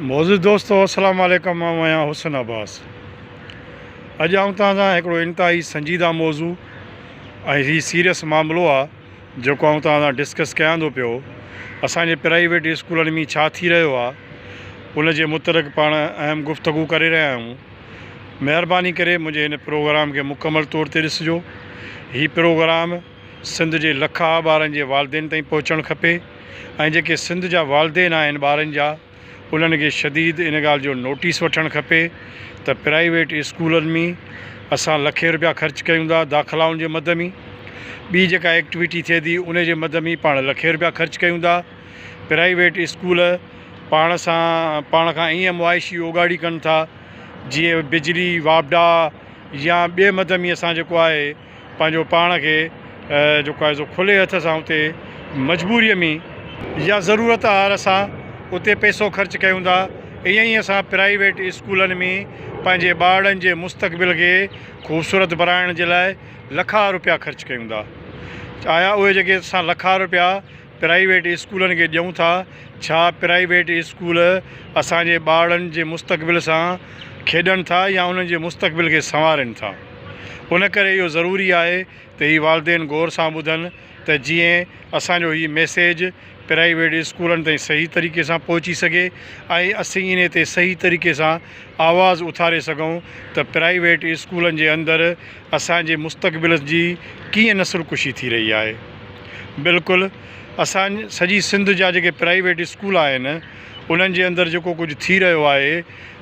معزز دوستو السلام عليڪم آئون آهيان حسن عباس اڄ آئون توهان سان هڪڙو انتهائي سنجيده موضوع ۽ هي سيريس معاملو آهي جيڪو آئون توهان سان ڊسڪس ڪيان ٿو پيو اسان جي پرائيويٽ اسڪولن ۾ ڇا ٿي رهيو آهي ان جي متعلق پاڻ اهم گفتگو ڪري رهيا آهيون مهرباني ڪري منهنجي هن پروگرام کي مڪمل طور تي ڏسجو هي پروگرام سنڌ جي لک آ ٻارن جي والدين تائين پهچڻ کپي ۽ جيڪي سنڌ جا والدين آهن ٻارن جا انهن کي شديد ان ڳالهه جو نوٽيس وٺڻ کپي ته پرائيويٽ اسڪولن مين اسان لکين روپيا خرچ ڪيون ٿا داخلائن جي مد مين ٻي جيڪا ايڪٽويٽي ٿئي ٿي ان جي مد مين پاڻ لکين روپيا خرچ ڪيون ٿا پرائيويٽ اسڪول پاڻ سان پاڻ کان ائين معاشي اوڳاڙي ڪن ٿا جيئن بجلي واپڊا يا ٻي مد مين اسان جيڪو آهي پنهنجو پاڻ کي جيڪو آهي سو کلي هٿ سان اتي مجبوريء ۾ يا ضرورت آهر سان اتي پئسو خرچ ڪيون ٿا ائين ئي اسان پرائيويٽ اسڪولن ۾ پنهنجي ٻارڙن جي مستقبل کي خوبصورت بڻائڻ جي لاء لکا روپيا خرچ ڪيون ٿا آيا اهي جيڪي اسان لکا روپيا پرائيويٽ اسڪولن کي ڏيون ٿا، ڇا پرائيويٽ اسڪول اسان جي ٻارڙن جي مستقبل سان کيڏن ٿا يا انهن جي مستقبل کي سنوارين ٿا؟ ان ڪري اهو ضروري آهي ته هي والدين غور سان ٻڌن ته جيئن اسان جو هي ميسيج پرائيويٽ اسڪولن تائين صحيح طريقي سان پهچي سگهي ۽ اسين انهي تي صحيح طريقي سان آواز اٿاري سگهون ته پرائيويٽ اسڪولن جي اندر اسان جي مستقبل جي ڪيئن نسل ڪشي ٿي رهي آهي بلڪل اسان سڄي سنڌ جا جيڪي پرائيويٽ اسڪول آهن انهن جي اندر جيڪو ڪجهه ٿي رهيو آهي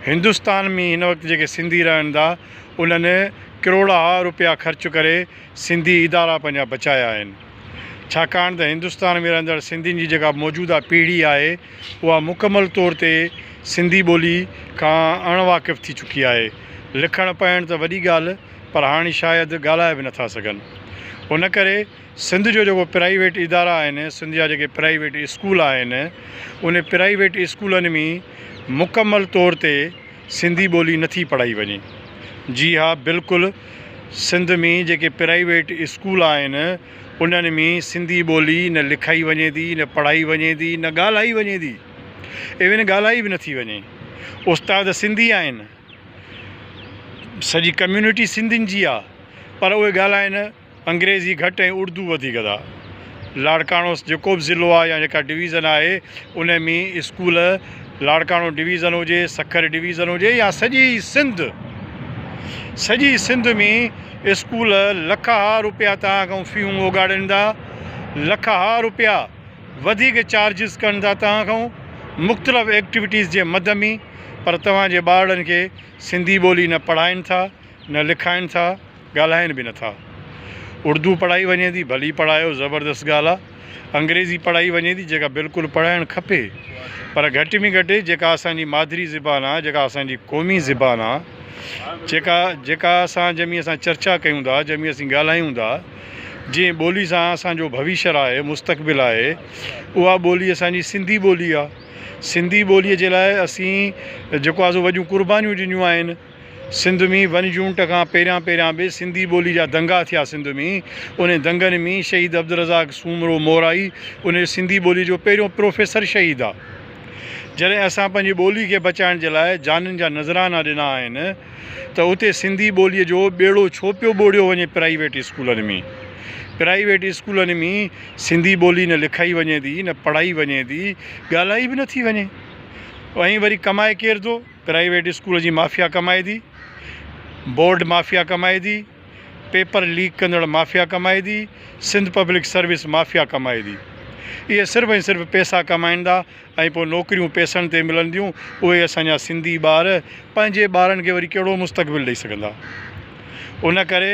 هندوستان ۾ هن وقت جيڪي سنڌي رهن ٿا انهن ڪروڙها روپيا خرچ ڪري سنڌي ادارا پنهنجا بچايا آهن ڇاڪاڻ ته هندستان ۾ رهندڙ سنڌين جي جيڪا موجوده پيڙهي آهي اها مڪمل طور تي سنڌي ٻولي کان اڻ واقف ٿي چڪي آهي. لکڻ پڙهڻ ته وڏي ڳالهه پر هاڻي شايد ڳالهائي به نٿا سگهن. ان ڪري سنڌ جو جيڪو پرائيويٽ ادارا آهن سنڌ جا جيڪي پرائيويٽ اسڪول آهن ان پرائيويٽ اسڪولن ۾ مڪمل طور تي سنڌي ٻولي نٿي پڙهائي وڃي. جي ها بلڪل سنڌ ۾ جيڪي پرائيويٽ اسڪول آهن انهن ۾ سنڌي ٻولي نه لکائي وڃي ٿي نه پڙهائي وڃي ٿي نه ڳالهائي وڃي ٿي ايون ڳالهائي به نٿي وڃي استاد سنڌي آهن سڄي ڪميونٽي سنڌين جي آهي پر اهي ڳالهائن انگريزي گهٽ ۽ اردو وڌيڪ ادا. لاڙڪاڻوس جيڪو به ضلعو آهي يا جيڪا ڊويزن آهي ان ۾ اسڪول لاڙڪاڻو ڊويزن هجي سکر ڊويزن هجي يا سڄي سنڌ سڄي سنڌ ۾ اسڪول لک ها روپيا تان کان فيون اوڳاڙين ٿا لک ها روپيا وڌيڪ چارجز ڪن ٿا تان کان مختلف ايڪٽيوٽيز جي مد ۾ پر توهان جي ٻارڙن کي سنڌي ٻولي نه پڙهائين ٿا نه لکائين ٿا ڳالهائين به نٿا. اڙدو پڙهائي وڃي ٿي ڀلي پڙهايو زبردست ڳالهه آ. انگريزي پڙهائي وڃي ٿي جيڪا بلڪل پڙهائڻ کپي پر گهٽ ۾ گهٽ جيڪا اسان جي مادري زبان آ جيڪا اسان جي قومي زبان آ جيڪا جيڪا اسان جنهن ۾ اسان چرچا ڪيون ٿا جنهن ۾ اسين ڳالهايون ٿا جنهن ٻولي سان اسان جو ڀويشر آهي مستقبل آهي اها ٻولي اسان جي سنڌي ٻولي آ سنڌي ٻولي جي لاء اسين جيڪو آ سو وڏيون قربانيون ڏنيون آهن. سنڌ مين ون جونٽ کان پهريان پهريان به سنڌي ٻولي جا دنگا ٿيا سنڌ مين انهن دنگن مين شهيد عبدالرزاق سومرو مورائي انهن سنڌي ٻولي جو پهريون پروفيسر شهيد آ جڏهن اسان پنهنجي ٻولي کي بچائڻ جي لاء جانن جا نذرانا ڏنا آهن ته اتي سنڌي ٻولي جو ٻيڙو ڇو پيو ٻوڙيو وڃي پرائيويٽ اسڪولن مين پرائيويٽ اسڪولن مين سنڌي ٻولي نه لکائي وڃي ٿي نه پڙهائي وڃي ٿي ڳالهائي به نه ٿي وڃي ائين وري ڪمائي ڪير ٿو پرائيويٽ اسڪول جي مافيا ڪمائدي، بورڊ مافيا ڪمائدي، پيپر ليڪ ڪندڙ مافيا ڪمائدي، سنڌ پبلڪ سروس مافيا ڪمائدي. اهي صرف ۽ صرف پيسا ڪمائيندا ۽ پوء نوڪريون پيسن تي ملنديون، اهي اسان جا سنڌي ٻار پنهنجي ٻارن کي وري ڪهڙو مستقبل ڏئي سگهندا. ان ڪري.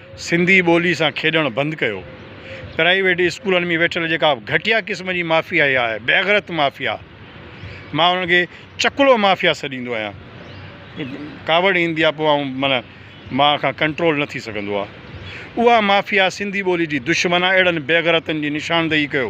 سنڌي ٻولي سان کيڏڻ بند ڪيو. پرائيويٽ اسڪولن ۾ ويٺل جيڪا گهٽيا قسم جي مافيا اها آهي بيغرت مافيا مان انهن کي چڪلو مافيا سڏيندو آهيان ڪاوڙ ايندي آهي پوء آئون معنيٰ مان کان ڪنٽرول نه ٿي سگهندو آهي اها مافيا سنڌي ٻولي جي دشمن آهي اهڙن بيغرتن جي نشاندهي ڪيو.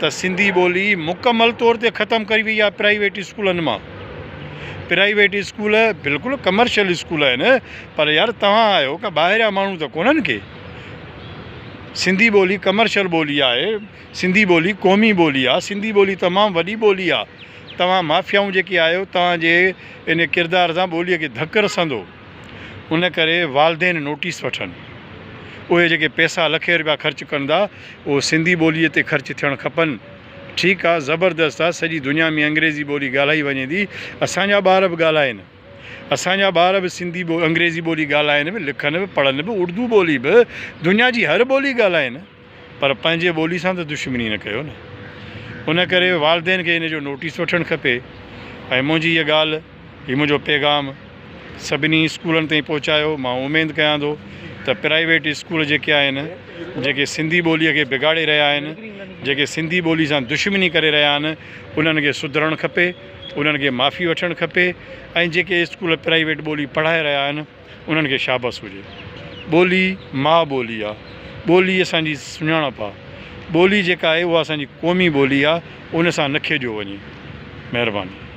ته سنڌي ٻولي مڪمل طور تي ختم ڪئي وئي آهي پرائيويٽ اسڪولن مان پرائيويٽ اسڪول بلڪل ڪمرشل اسڪول آهن پر يار توهان آهيو ڪا ٻاهريا ماڻهو ته ڪونهن ڪي سنڌي ٻولي ڪمرشل ٻولي آهي سنڌي ٻولي قومي ٻولي آهي سنڌي ٻولي تمام وڏي ٻولي آهي توهان مافيائون جيڪي آهيو توهان جي ان ڪردار سان ٻولي کي ڌڪ رسندو ان ڪري والدين نوٽيس وٺن. اهي جيڪي پئسا لکين روپيا خرچ ڪن ٿا اهي سنڌي ٻولي تي خرچ ٿيڻ کپن. ٺيڪ آ زبردست آ سڄي دنيا ۾ انگريزي ٻولي ڳالهائي وڃي ٿي اسان جا ٻار به ڳالهائين اسان جا ٻار به سنڌي انگريزي ٻولي ڳالهائين به لکن به پڙهن به اردو ٻولي به دنيا جي هر ٻولي ڳالهائين. پر پنهنجي ٻولي سان ته دشمني نه ڪيو نه. ان ڪري والدين کي ان جو نوٽيس وٺڻ کپي ۽ منهنجي هيء ڳالهه، هي منهنجو پيغام سڀني اسڪولن تائين پهچايو. مان اميد ڪيان ٿو ته پرائيويٽ اسڪول جيڪي آهن، جيڪي سنڌي ٻوليء کي بگاڙي رهيا آهن، جيڪي سنڌي ٻولي سان دشمني ڪري رهيا آهن، انهن کي سڌرڻ کپي، انهن کي معافي وٺڻ کپي ۽ جيڪي اسڪول پرائيويٽ ٻولي پڙهائي رهيا آهن، انهن کي شابس هجي. ٻولي ماء ٻولي آ. ٻولي اسان جي سڃاڻپ آ. ٻولي جيڪا آهي اها اسان جي قومي ٻولي آ ان سان نه کيڏيو وڃي. مهرباني.